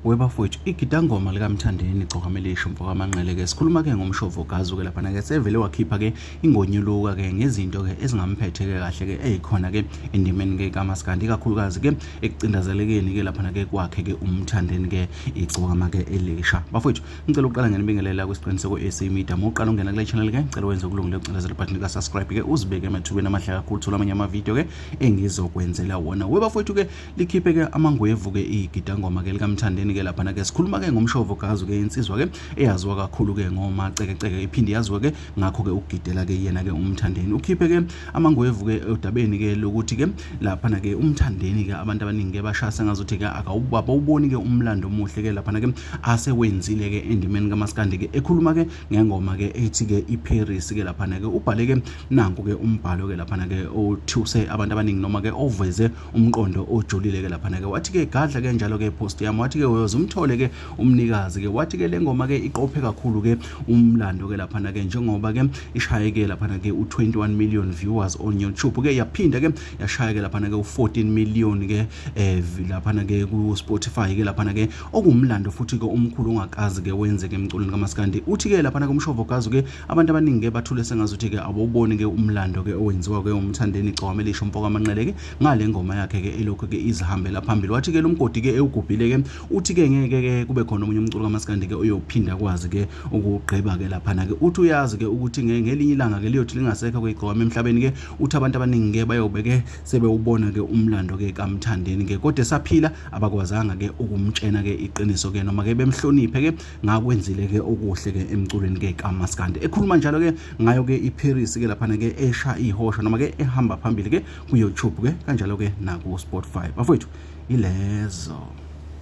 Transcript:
webafowethu igidangoma likamthandeni gcokamelisho mfokamanqele ke sikhuluma ke ngomshovo gazu ke laphana ke sevele wakhipha ke ingonyuluka ke ngezinto ke ezingamphethe ke kahle ke eyikhona ke endimeni ke kamaskandi ikakhulukazi ke ekucindazelekeni ke laphana ke kwakhe ke umthandeni ke igcokama ke elisha bafowethu ngicela ukuqala ngenibingelela kwisiqiniseko AC Media moqala ungena kule channel ke ngicela wenze ukulungile ucindezela button ka subscribe ke uzibeke emathubeni amahle kakhulu thola amanye ama video ke engizokwenzela wona we bafowethu ke likhiphe ke amangwevu ke igidangoma ke likamthandeni ke lapha ke sikhuluma ke ngomshovo kazu ke insizwa ke eyaziwa kakhulu ke ngoma ceke ceke iphinde yaziwa ke ngakho ke ukugidela ke yena ke umthandeni ukhiphe ke amangwevu ke odabeni ke lokuthi ke lapha ke umthandeni ke abantu abaningi ke bashasa ngazothi ke akawubaba uboni ke umlando omuhle ke lapha ke asewenzile ke endimeni kamaskandi ke ekhuluma ke ngengoma ke ethi ke iParis ke lapha ke ubhale ke nanku ke umbhalo ke lapha ke othuse abantu abaningi noma ke oveze umqondo ojulile ke lapha ke wathi ke gadla ke njalo ke post yami wathi ke uyoze umthole ke umnikazi ke wathi ke lengoma ke iqophe kakhulu ke umlando ke lapha ke njengoba ke ishaye ke lapha ke u21 million viewers on YouTube ke yaphinda ke yashaya ke lapha ke u14 million ke eh lapha ke ku Spotify ke lapha ke okumlando futhi ke umkhulu ongakazi ke wenzeke emculweni kamaskandi uthi ke lapha komshovo kazi ke abantu abaningi ke bathule sengazuthi ke awuboni ke umlando ke owenziwa ke umthandeni igcwame lisho mfoka amanqele ke ngale ngoma yakhe ke elokho ke izihambela phambili wathi ke lomgodi ke ewugubhile ke uthi ke ngeke ke kube khona omunye umculo kamaskandi ke uyophinda kwazi ke ukugqiba ke lapha ke uthi uyazi ke ukuthi ngelinye ilanga ke liyothi lingasekho ke igcwame emhlabeni ke uthi abantu abaningi ke bayobeke sebewubona ke umlando ke kamthandeni ke kodwa esaphila abakwazanga ke ukumtshena ke iqiniso ke noma ke bemhloniphe ke ngakwenzile ke okuhle ke emculweni ke kamaskandi ekhuluma njalo ke ngayo ke iParis ke lapha ke esha ihosha noma ke ehamba phambili ke ku YouTube ke kanjalo ke naku Spotify bafowethu ilezo